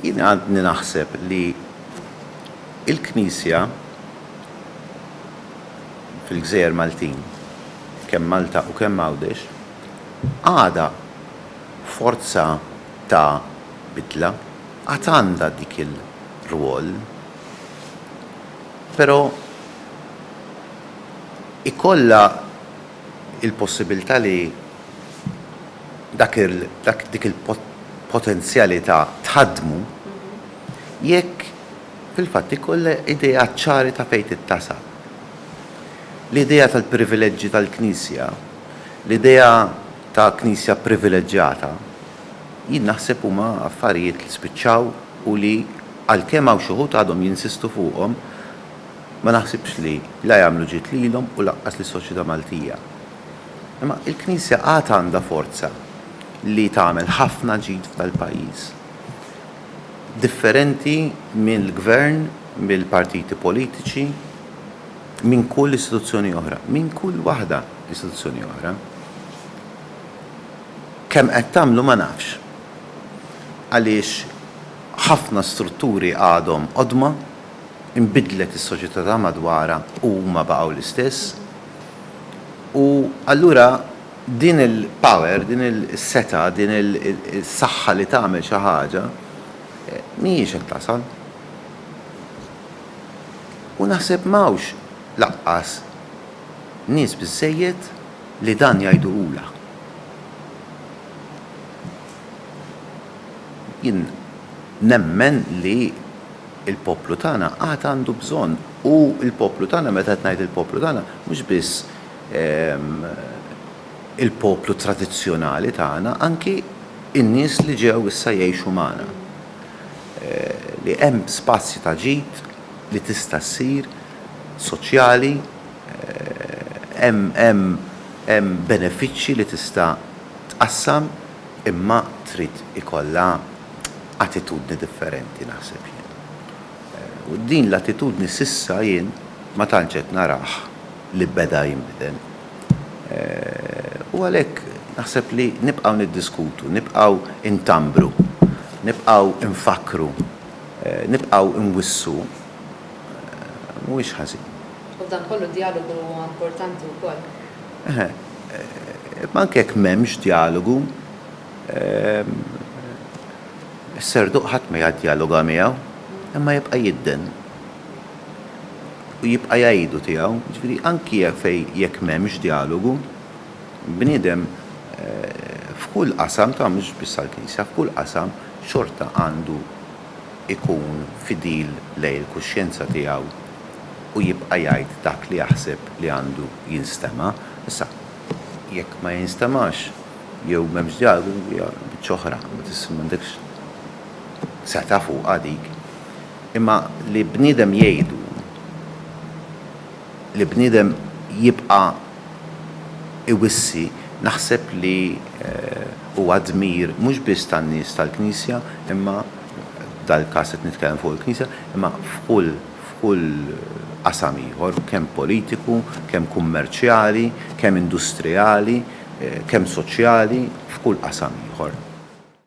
Jien għadni naħseb li l-Knisja fil-gżejjer Maltin, kemm Malta u kemm Għawdex, għadha forza ta' bidla, għad għandha dik il-rwol. Però ikollha il-possibilità li dak il, dak, dik il-potenzjalità tħaddmu jekk fil-fatt ikollha ideat ċari ta' fejn tittasab. L-idea tal-privileġġi tal-Knisja, l-idea ta' Knisja privileġġjata, jien naħseb huma affarijiet li spiċċaw u li għalkemm hawn xi wħud għadhom jinsistu fuqhom, Ma naħsibx li la jagħmlu ġid lilhom u lanqas lis-soċjetà Maltija. Imma il-Knisja għad għandha forza li tagħmel ħafna ġid f'dal-pajjiż. Differenti mill-Gvern, mill-partiti politiċi, minn kull istituzzjoni oħra, minn kull waħda istituzzjoni oħra. Kemm qed tagħmlu ma nafx. Għaliex ħafna strutturi għadhom qodma. inbidlet is-soċjetà ta' madwarha u huma baqgħu l-istess. U allura din il-power, din is-setgħa, din is-saħħa li tagħmel xi ħaġa mhijiex qed tasal. U naħseb m'hawnx lanqas nies biżżejjed li dan jgħiduhulha. Jien nemmen li il-poplu tagħna għad għandu bżonn, u l-poplu tagħna, meta qed ngħid il-poplu tagħna, mhux biss il-poplu tradizzjonali tagħna, anki n-nies li ġew issa jgħixu magħna, li hemm spazji ta' ġid li tista' ssir soċjali, hemm benefiċċji li tista' tqassam, imma trid ikollha attitudni differenti naħseb jien. U din l-attitudni s'issa jien ma tantx qed narah li beda jinbidel. U għalhekk naħseb li nibqgħu niddiskutu, nibqgħu ntambru, nibqgħu nfakkru, nibqgħu nwissu mhuwiex ħażin. U f'dan kollu d-djalogu huwa importanti wkoll. Eħe, imma anke jekk m'hemmx djalogu, Is-serduq ħadd ma jaddjaloga miegħu, imma jibqa' jidden u jibqa' jgħidu tiegħu. Jiġifieri anki jekk m'hemmx djalogu, bniedem f'kull qasam, ta' mhux biss għall-Knisja, f'kull qasam xorta għandu jkun fidil lejn il-kuxjenza tiegħu u jibqa' jgħid dak li jaħseb li għandu jinstema'. Issa, jekk ma jinstemax, Jew m'hemmx djalogu hija biċċa oħra, ma tista' m'għandekx setgħa fuqha dik. Imma li bniedem jgħidu, li bniedem jibqa' iwissi, naħseb li huwa dmir mhux biss tan-nies tal-Knisja imma, f'dal-każ qed nitkellem fuq il-Knisja, imma f'kull. f'kull qasam ieħor, kemm politiku, kemm kummerċjali, kemm industrijali, kemm soċjali, f'kull qasam ieħor.